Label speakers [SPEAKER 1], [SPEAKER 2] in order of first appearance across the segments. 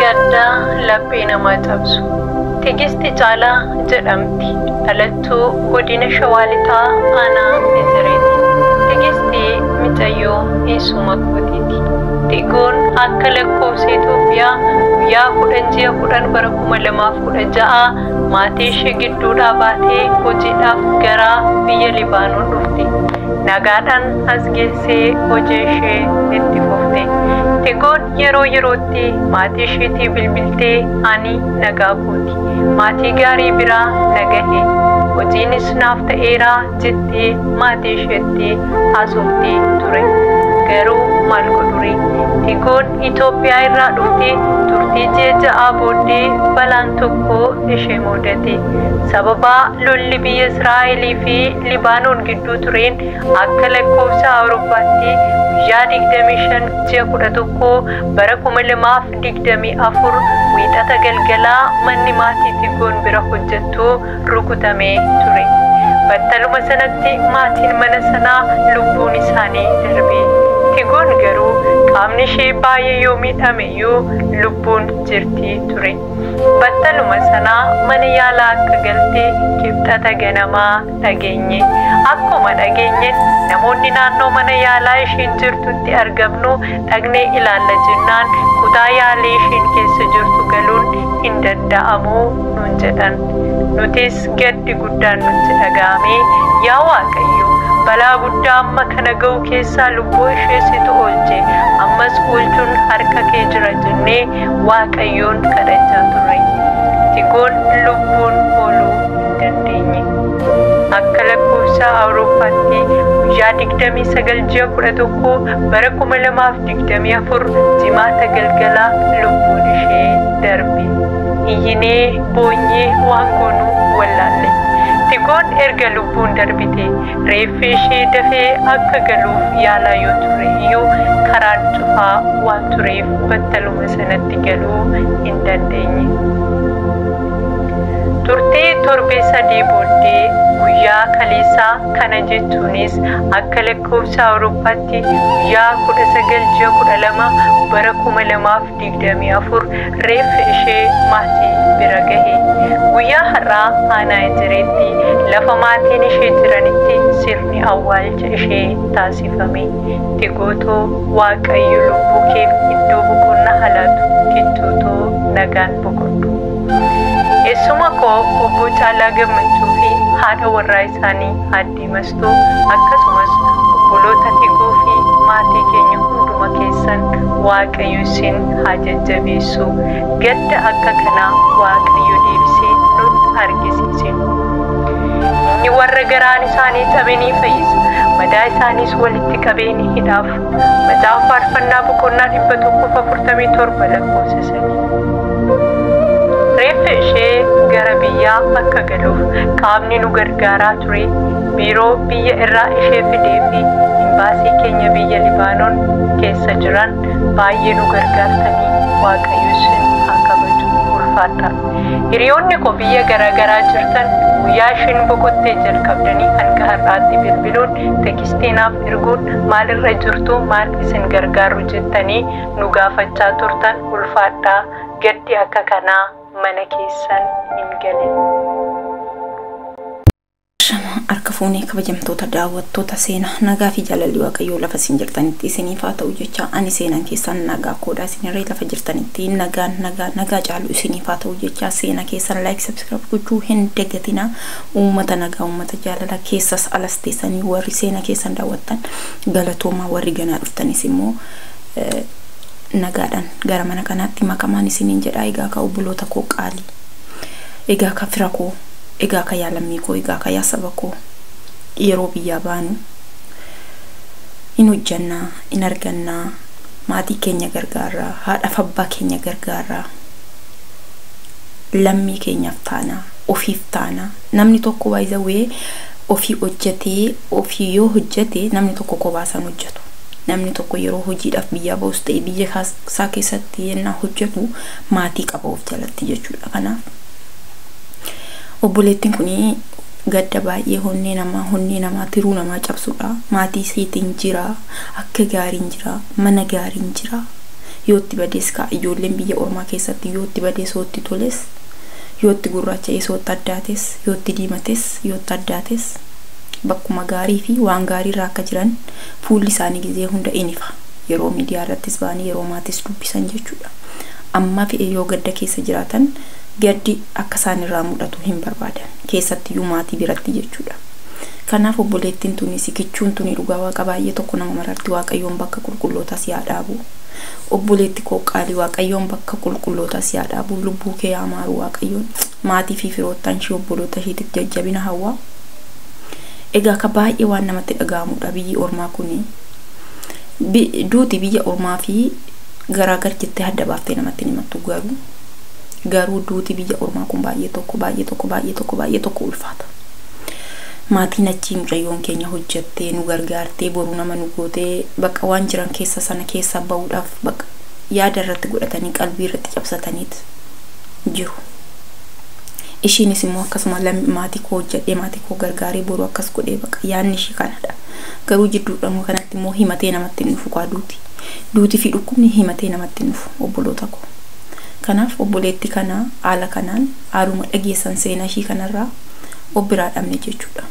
[SPEAKER 1] Gaddaa laphee namaa cabsu. Tigisti Caalaa jedhamti. Dhalattuu godina Shawaa Lixaa aanaa Ejereeti. Tigisti micayyoo eessuma kootiiti. Tigoon akka lakkoofsa Itoophiyaa guyyaa 10 ji'a 10 bara 2016 maatii ishee gidduudhaa baatee hojiidhaaf gara biyya Libaanoon dhufte. Nagaadhaan as geesse. teessee hojii ishee itti fufte. Tigoon yeroo yerootti maatii ishiitii bilbiltee ani nagaa kooti. Maatii gaarii biraa na gahe. Hojiinis naaf ta'eera jettee maatii isheetti haasofti ture. Garuu maal godhuri? Tigoon Itoophiyaa irraa dhufte turtii ji'a ja'aa booddee balaan tokko ishee muudate. Sababaa lolli biyya Israa'elii fi Libaanoon gidduu tureen Akka lakkoofsa Awurooppaatti guyyaa 25 ji'a 11 bara 2024 Wiixata galgala manni maatii Tigoon bira hojjettu rukutamee ture. Battaluma sanatti maatiin mana sanaa lubbuun isaanii darbe. Tigoon garuu qaamni ishee baay'ee yoo miidhame iyyuu lubbuun jirti ture. Battaluma sana mana yaalaa akka galte Kibxata ganama dhageenye. Akkuma dhageenyes namoonni naannoo mana yaalaa ishiin jirtutti argamnu dhaqnee ilaalla jennaan kutaa yaalii ishiin keessa jirtu galuun hin danda'amu nuun jedhan. Nutis gaddi guddaan nutti dhaga'amee yaa Waaqayyo balaa guddaa amma kana ga'u keessaa lubbuu ishee situ oolche ammas oolchuun harka kee jira jennee waaqayyoon kadhachaa turre. Tigoon lubbuun ooluu hin dandeenye. Akka lakkoofsa Awurooppaatti guyyaa 29 ji'a 11 bara 2024 jimaata galgala lubbuun ishee darbe. Iyyinee boonyee waan goonu wallaalle. Tigoon erga lubbuun darbite Reeffi ishee dafee akka galuuf yaalaa yoo ture iyyuu karaan cufaa waan tureef battaluma sanatti galuu hin dandeenye. Turtii torbee sadii booddee guyyaa kaleessaa kana jechuunis akka lakkoofsa Awurooppaatti guyyaa 19 ji'a 12 bara 2000 24 reeffi ishee maatii bira gahe. Guyyaa har'aa aanaa Ejereetti lafa maatiin ishee jiranitti sirni awwaalcha ishee taasifame. Tigoo too Waaqayyo lubbuu keef iddoo boqonnaa haa laatu Kichuu too nagaan boqodhu. Eessuma koo Obboo Caalaa Gammachuu fi haadha warraa isaanii Aadde Addee Mastuu akkasumas obboloota Tiguu fi maatii keenya hunduma keessan Waaqayyo isin haa jajjabeessu. Gadda akka kanaa Waaqayyo deebisee nutti argisiise. Inni warra garaan isaanii cabe ni fayyisa, madaa isaaniis walitti qabee ni hidhaaf. Macaafa Faarfannaa boqonnaa 147 lakkoofsa 3. Reeffi ishee gara biyyaa akka galuuf qaamni nu gargaaraa ture biiroo biyya irraa ishee fidee fi imbaasii keenya biyya Libaanoon keessa jiran baay'ee nu gargaartanii waaqayyo isin haa kabaju ulfaadha. Hiriyoonni koo biyya garaagaraa jirtan guyyaa ishiin boqottee jalqabdanii hanga har'aatti bilbiluun tekistii naaf erguun maalirra jirtu maal isin gargaaru jettanii nu gaafachaa turtan ulfaadhaa gaddi akka kanaa mana keessan hin
[SPEAKER 2] galin. Shama harka fuunee kabajamtoota daawwattoota seena nagaa fi jaalalli waaqayyoo lafa isin jirtanitti isiniif haa ta'u jecha ani seenan keessan nagaa koodha isinirree lafa jirtanitti nagaan nagaa nagaa caalu isiniif haa ta'u jecha seena keessan laayik sabskiraayib gochuu hin dagatina uummata nagaa uummata jaalala keessas alas teessanii warri seena keessan daawwattan galatoomaa warri ganaa dhuftanis immoo Nagaadhan gara mana kanaatti makamaan isiniin jedhaa egaa kaa obboloota koo qaalii egaa kaa fira koo egaa kaa yaa lammii koo egaa kaa yaa saba koo yeroo biyyaa baanu in hojjannaa in argannaa maatii keenya gargaarraa haadhaf abbaa keenya gargaarraa lammii keenyaaf taanaa ofiif taanaa namni tokko by the way ofii hojjatee ofii yoo hojjate namni tokko kophaa isaa hin hojjatu. Namni tokko yeroo hojiidhaaf biyyaa bahus ta'e biyya isaa keessatti yennaa hojjatu maatii qaba of jalatti jechuudha. Kanaaf obboleettiin kun gadda baay'ee honnee namaa honnee namaa tiruu namaa cabsudha. Maatii isiitiin jira akka gaariin jira mana gaariin jira. Yoo itti badees kaa ijoolleen biyya ormaa keessatti yoo itti badees yoo itti toles yoo itti gurraacha'ees yoo itti addaates yoo itti diimates yoo itti addaates bakkuma gaarii fi waan gaarii irra akka jiran Fuulli isaanii gizee hunda in ifa. Yeroo miidiyaa irrattis ba'anii yeroo maatiis dubbisan jechuudha. Ammaa fe'e yoo gadda keessa jiraatan gaddi akka isaan irraa mul'atu hin barbaadan. Keessattiyyuu maatii biratti jechuudha. Kanaaf obboleettiin tuni si kichuun tuni dhugaa waaqa baay'ee tokko nama mararti waaqayyoon bakka qulqullootaa si haa dhaabu. Obboleetti koo qaalii waaqayyoon bakka qulqullootaa si haa dhaabu lubbuu kee haa maaru waaqayyoon. Maatii fi firoottan ishii obboloota ishiitiif jajjabina hawwa. Egaa ka baay'ee waan namatti dhaga'amuudha biyyi ormaa kuni. Bi, duuti biyya ormaa fi garaa gar jettee adda baaftee namatti hin himattu garuu garuu duuti biyya ormaa kun baay'ee tokko baay'ee tokko baay'ee tokko baay'ee tokko ulfaata. Maatiin achii mucayyoon keenya hojjattee nu gargaartee boru nama nu gootee bakka waan jiran keessa sana keessaa ba'uudhaaf bakka yaada irratti godhatanii qalbii irratti cabsataniit jiru. Ishiinis immoo akkasuma lammi maatii koo hojjedhee maatii koo gargaaree boru akkas godhee baqa yaadni ishii kanadha. Garuu jidduudhaan immoo kanatti immoo himatee namatti hin dhufu kaa duuti. Duuti fi dhukkubni himatee namatti hin dhufu obboloota koo. Kanaaf obboleetti kana haala kanaan haaluma dhageessan seenaa ishii kanarraa of biraa dhabne jechuudha.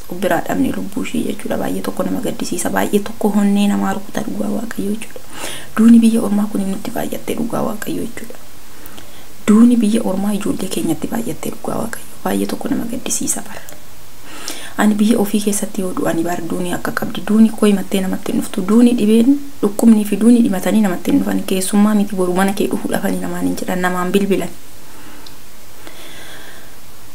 [SPEAKER 2] Of biraa dhabne lubbuu ishii jechuudha. Baay'ee tokko nama gaddisiisa. Baay'ee tokko honnee namaa rukuta dhugaa waaqayyoo jechuudha. Duuni biyya ormaa kun nutti baay'attee dhugaa waaqayyo jechuudha. Duuni biyya ormaa ijoollee keenyatti baay'attee dhugaa waaqayyo baay'ee tokko nama gaddisiisa bar. Ani biyya ofii keessatti yoo du'ani bar duuni akka qabdi duuni koo himattee namatti hin dhuftu duuni dhibeen dhukkubnii fi duuni dhimatanii namatti hin dhufan keessummaa miti boru mana kee dhufuu dhafanii namaan hin jedhan namaan bilbilan.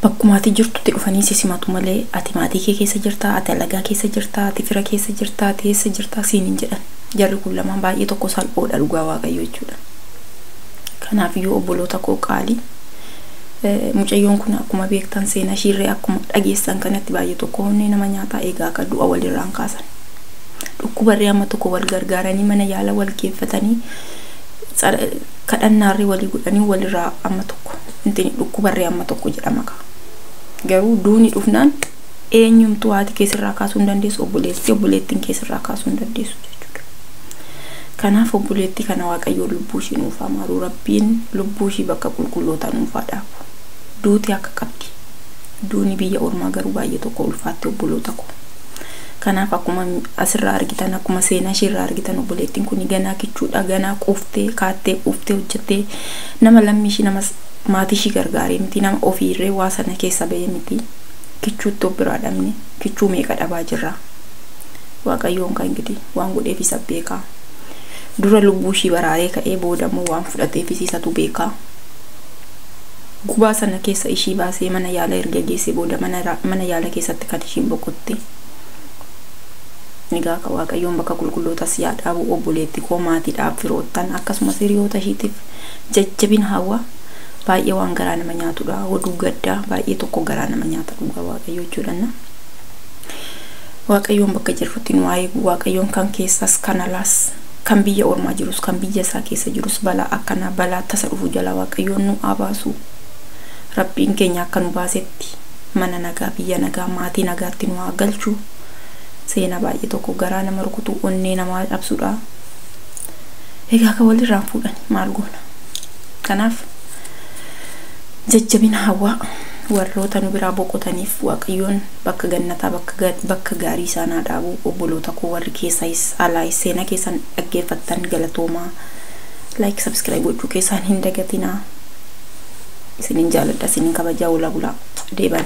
[SPEAKER 2] Bakkuma ati jirtutti dhufanii si simatu malee ati maatii kee keessa jirtaa ati alagaa keessa jirtaa ati fira keessa jirtaa ati eessa jirtaa siin hin jedhan. Jarri kun lamaan baay'ee tokko salphoodha dhugaa waaqayyoo jechuudha. Kanaaf iyyuu obboloota koo qaalii mucayyoon kun akkuma beektan seenaa ishiirree akkuma dhageessan kanatti baay'ee tokko onnee nama nyaataa eegaa akka du'a walirraan kaasan. Dhukkubarree amma tokko wal gargaaranii mana yaala wal geeffatanii kadhannaarree walii godhanii walirraa amma tokko dhukkubarree amma tokko jedhama kaa. Garuu duuni dhufnaan eenyumtuu haati kee sirraa kaasuu hin dandeessu, obboleessi, obboleettiin kee sirraa kaasuu hin dandeessu jechuudha. Kanaaf obboleettii kana Waaqayyoon lubbuu ishii nuuf haa maaru, Rabbiin lubbuu ishii bakka qulqullootaa nuuf haa dhaabu. Duuti akka qabdi. Duuni biyya ormaa garuu baay'ee tokko ulfaatti obboloota koo. Kanaaf akkuma asirraa argitan, akkuma seenaa ishee irraa argitan obboleettiin kun ganaa kichuudha, ganaa quuftee, kaattee quuftee hojjettee nama lammii ishii nama maatii ishii gargaaree miti, nama ofiirree waa sana keessa ba'ee miti. Kichuu itti of biraa dhabne kichuu meeqa dhabaa jirra waaqayyoon kan gidi waan godheef isa beekaa dura lubbuu ishii baraaree ka'ee booda immoo waan fudhateef isatu beekaa gubaa sana keessa ishii baasee mana yaala erga geessee booda mana, mana yaala keessatti kan ishiin boqotte egaa akka waaqayyoon bakka qulqullootas yaa dhaabu obboleetti koo maatiidhaaf firoottan akkasumas hiriyoota ishiitiif jajjabina hawwa baay'ee waan garaa nama nyaatudha oduu gaddaa baay'ee tokko garaa nama nyaata dhugaa waaqayyoo jechuudhanna waaqayyoon bakka jirrutti nu eegu waaqayyoon kan keessas kan alaas kan biyya ormaa jirus kan biyya isaa keessa jirus balaa akkanaa balaa tasa dhufu jala waaqayyoon nu abaasu rabbiin keenya akka nu baasetti mana nagaa biyya nagaa maatii nagaatti nu haa galchu seenaa baay'ee tokko garaa nama rukutu onnee namaa dhabsudha egaa akka walirraan fuudhani maal goona Kanaaf jajjabina hawwaa. Warroota nu biraa boqotaniif Waaqayyoon bakka gannataa bakka bakka gaarii isaan haa dhaabu. Obboloota koo warri keessayis alaayis seenaa keessan dhaggeeffattan galatoomaa. Like subscribe gochuu keessaan hin dagatinaa. Isinin jaaladha isinin kabajaa ola bulaa. Deeban.